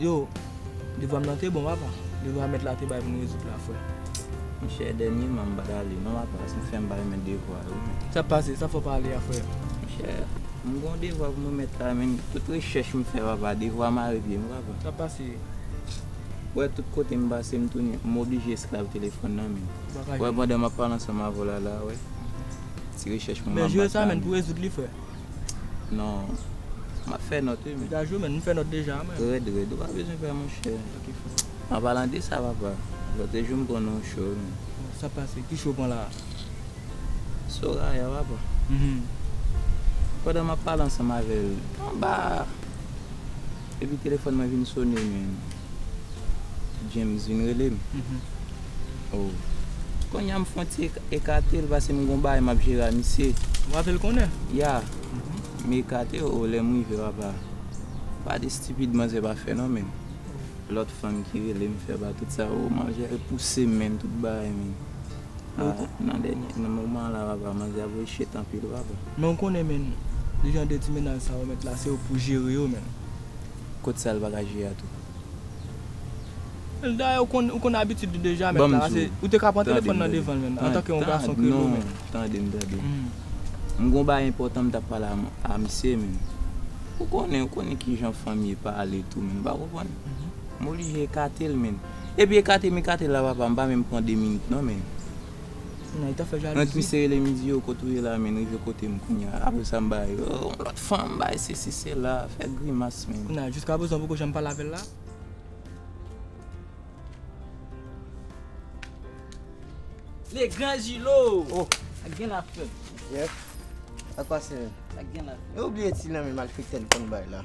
Yo, devwam nan te bon papa. Devwa mèt la te bay pou nou rezoud la frè. Monchè dènyèman m pa t ale non papa, si m fè m pa remèt devwa yo men. Sa pase, sa fò pale a frè. Monchè, m gon devwa pou m remèt la men tout rechèch m fè papa, devwa mare pye m papa. Sa pase. Ou wè tout kote m pase m tounen, m oblije esklav telefòn nan men. Ou wè pandan m ap pale ansanm avè w la la a, ou wè ti rechèch mwen m ap bat la men. Men jwe sa men pou rezoud li frè. Non, m ap fè nòt wi men. Ou ka jwe men, m fè nòt deja men. Rèd rèd, ou pa bezwen pè monchè. An palan de sa papa, lòt jou m pran yon cho wi men. Bon, sa pase, ki cho ou pran la a? Soraya papa. Pandan m ap pale ansanm avè l, anba. Epi telefòn mwen vin sone men James vin rele m oh Kounye a m fon ti ekate l pase m gon bagay m ap jere a misye Ou ape l konnen? Ya M ekate oh lè m rive w apa Pa de stipid manzè pa fè non men Lòt fanm ki rele m fè ba tout sa oh manzè pouse m men tout bagay men Nan dènye nan moman la papa manje ap vin chet anpil papa. Men ou konnen menn jan de ti mennaj sa yo met la se ou pou jere yo menn. Kot sal paka jere a tou. Dayè ou konn ou konn abitid li deja met la se ou te ka pran telefòn nan devanl menn antanke yon gason ke nou menn. Tandem tandem m gon bagay enpòtan m tap pale a misye menn ou konnen ou konnen kijan fanm ye pale tou menn m pa konprann m oblije ekatel menn. Epi ekate mikate la papa m pa menm pran 2 minit non menn Nan k misye rele m di yo kot ou ye la menn rive kote m kounya apre sa m bay yo yon lòt fanm bay sesi sela fè grimas menn. Kounya jiska prezan ou poko janm pale avèl la? Le grand Julo! Oh! Sa k gen la frè m? Yes? Sa k pase menn? Sa k gen la frè m? Ou bliye ti lanmen malfektè n konn bay la?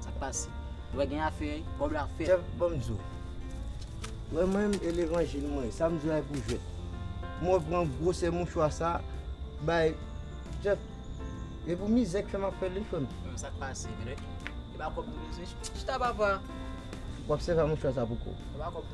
Sa k pase? Ou wè gen afè, kòb la fèt. Chèf, ban m di w. Ou wè mwen menm e levanjil mwen, sa m di w la e pou jwèt. Mwen pran gwosè mouchwa sa a bay Chèf, e pou mizè k fè m ap fè l wi frè m. Bon, sa k pase menm? E pa kòb nou bezwen? Chita papa! W ap sèvi ak mouchwa sa pou kò w.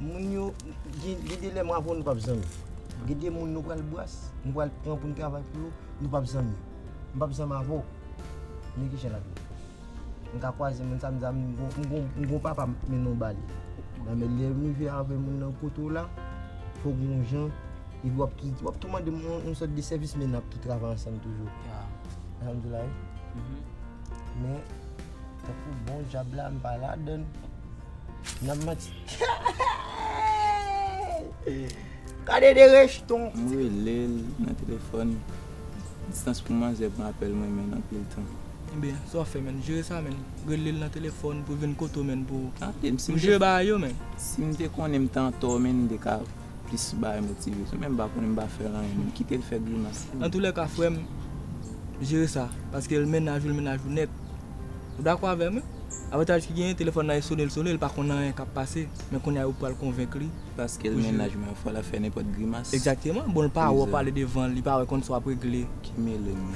Moun yo gede lè mwa pou nou pap zanmi gede moun nou pral bwase nou pral pran pou nou travay pou yo nou pap zanmi m pap zanmi avè w men ki jan lap ye m ka kwaze moun sa m di a m gon papa m mennen w ba li nan men lè m rive avè moun nan kote w la fò gon jan epi wap ki wap tou mande m yon sòt de sèvis men nap tou travay ansanm toujou alhamdoulilahi men Tankou bon djab la m pa ladann. Nan manti. Gade de rejton. M rele l nan telefòn. Distans pou manzè pran apèl mwen menn anpil tan. Enben, sa w ap fè menn? Jere sa menn. Rele l nan telefòn pou l vin kote w menn pou. Tande m si m te. Pou jere bagay yo menn. Si m te konnen m te antò menn m te ka. plis bay motive menm m pa konnen m pa fèl anyen menm kitel fè grimas li. Antoulèka frèm jere sa paske l mennaj ou l mennaj ou nèt ou dakò avèm wi avantaj ki genyen telefòn nan e sone l sone l pa konn anyen kap pase men kounya ou pral konvenk li paske l mennaj mwen fòl ap fè nenpòt grimas egzakteman bon l pa wè w pale devan l li pa wè konn sa wap regle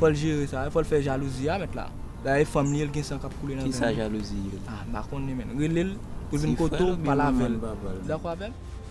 fòl jere sa fòl fè jalouzi a mèt la dayè e fanm li ye l gen san kap koule nan venn li kisa jalouzi ye ah m pa konnen menn rele l pou l vin kote w pale avèl ou dakò avèm.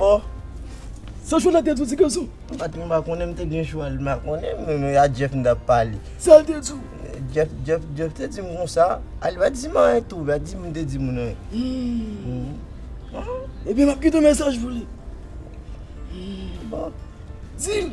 Bon. Sa Jolèt te di w ti gason? M pa t menm konnen m te gen chwa l. M pa konnen m menm. A Djèf m t ap pale. Sa l te di w? Djèf te di m konsa. A li pa t di m anyen tou. Li pa t di m te di moun anyen. Ebyen m ap kite mesaj pou li. Bon. Di l.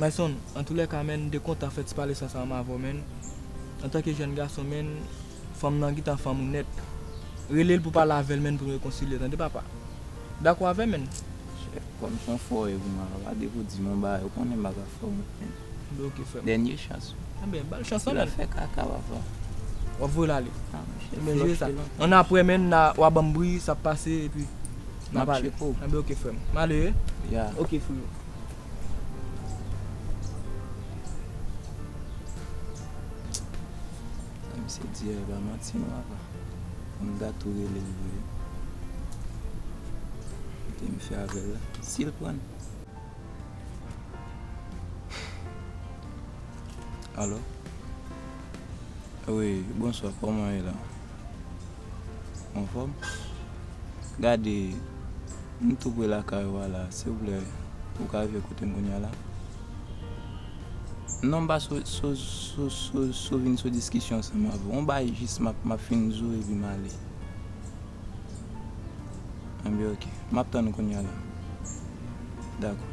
My son, antoulèka menn mte kontan fè ti pale san sa anm avèw menn, antanke jèn gason menn, fanm nan gntan fanm ou nèt. Relel pou pale avèl menn pou nou rekonsilye tande papa. Dakò avèm menn? Chèf, kòm son fò e pou mwen la pa depo dim yon bagay ou konnen m paka fè wont menn. Anben ok frèm. Dènye chans ou. Anben bal chans lan menn. Sila fè kaka papa. Wap voyel ale. Anben chèf, lòche lòche sa. An aprè menn na wa banm bri sa pase epi na pale. Map tcheko. Anben ok frèm. Male e? Ya. Ok freo. Sa misye di a e pa manti non apa. Fò m dat tou rele l vre. Kote m fè avè l la. Si l pran l. Alo? Wi, bonswa. Kòman e la? Anfòm? Gade, m tou pre lakay ou a la. Silvouplè, ou ka rive kote m kounya la? Non, m pa sou vin sou diskisyon ansanm avè w. On bagay jis m ap fin di w epi m ale. Enben ok, m ap tann ou kounya la. Dakò.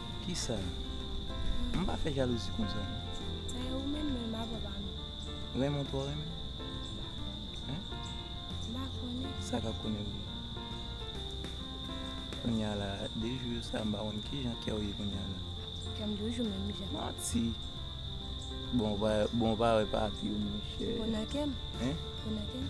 Kisa? M pa fè jalouzi konsa non. Sa e ou menm menm a papa m. Renmen w twò renmen? M pa konnen. Hein? M pa konnen. Sa ka konnen vre. Kounye a la, de jou yo sa m pa konn ki jan kè w ye kounye a la. Kè m toujou menm jan. Manti! Bon w pa wè papi w monchè. Ou nan kè m? Hein? Ou nan kè m?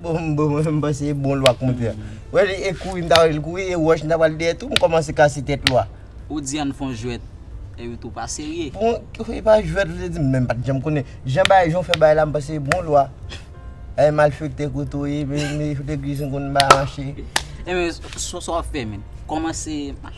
Bon bon mwen panse e bon lwa konte a. Wè li e kouri m ta wè li kouri e wòch m ta pral dèyè tou m kòmanse kase tèt lwa. Ou di ann fon jwèt e ou tou pa serye. Bon e pa jwèt ou te di m men m pat janm konnen. Jan bagay jan w fè bagay la m panse e bon lwa. E malfektè kote w ye men legliz m konn m pa mache. E men sa w fè menm? Kòmanse mache.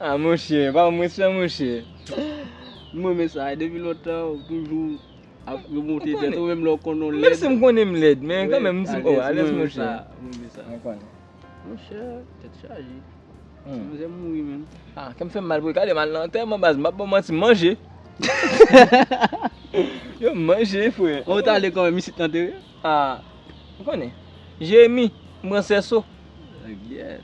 Ah monche pa mwen sèl monche. M renmen sa e depi lontan ou toujou ap remonte tèt ou menm lè ou konnen ou lèd. Menm si m konnen m lèd men kan menm m di oh alèz mwen sa. M renmen sa. Mwen konnen. Monchè tèt chaje. Ti manzè mouri menm. Ah kèm fèm mal pou li. Gade m al nan antèman baz m pap baw manti m manje. Yo m manje frè. Ou t ale kòman misye t antere? Ah ou konnen. Jeremi m pran sèso. Gyèèt.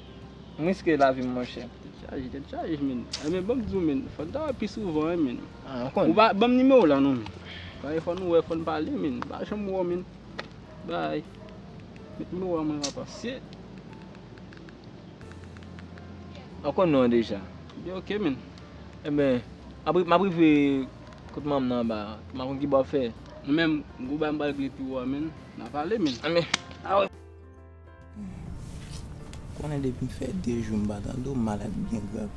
M riske lavi m monchè. Dechaje, dechaje menn. Enben banm di w menn, fò n ta wè pi souvan an menn. Ah, m konnen. Ou pa banm nimewo w la non menn. Paske fò nou wè, fò n pale menn. M pa janm wè w menn. Bye. Met nimewo a mwen apa. Se. Ou konn non an deja. Ebyen ok menn. Enben, map, map rive kot manman m nan anba a. M pa konn ki bo w ap fè. Ou menm, gwo bagay m pral regle pi wo a menn. N a pale menn. Anben. Konnen depi m fè 2 jou m pa tande w malad ou byen grav?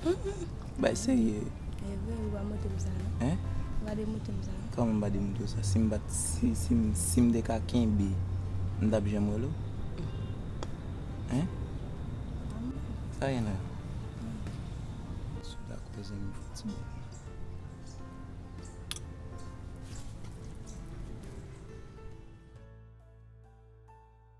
Bay serye. E vre wi, pa montre m sa non. Hein? Pa demoute m sa non. Kòman m pa demoute w sa? Si m pa t, si, si m, si m te ka kenbe, m t ap janm rele w? Hein? Pa montre m. Sa gen la? Anyen. Si w ta kwè zanmi fò ti bò.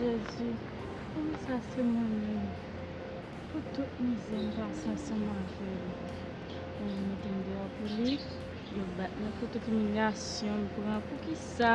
Jezi poukisa sa se mwen menm pou tout mizè m pase ansanm avè l pou yo mete m deyò pou li yo bat mwen pou tout imilyasyon m pran poukisa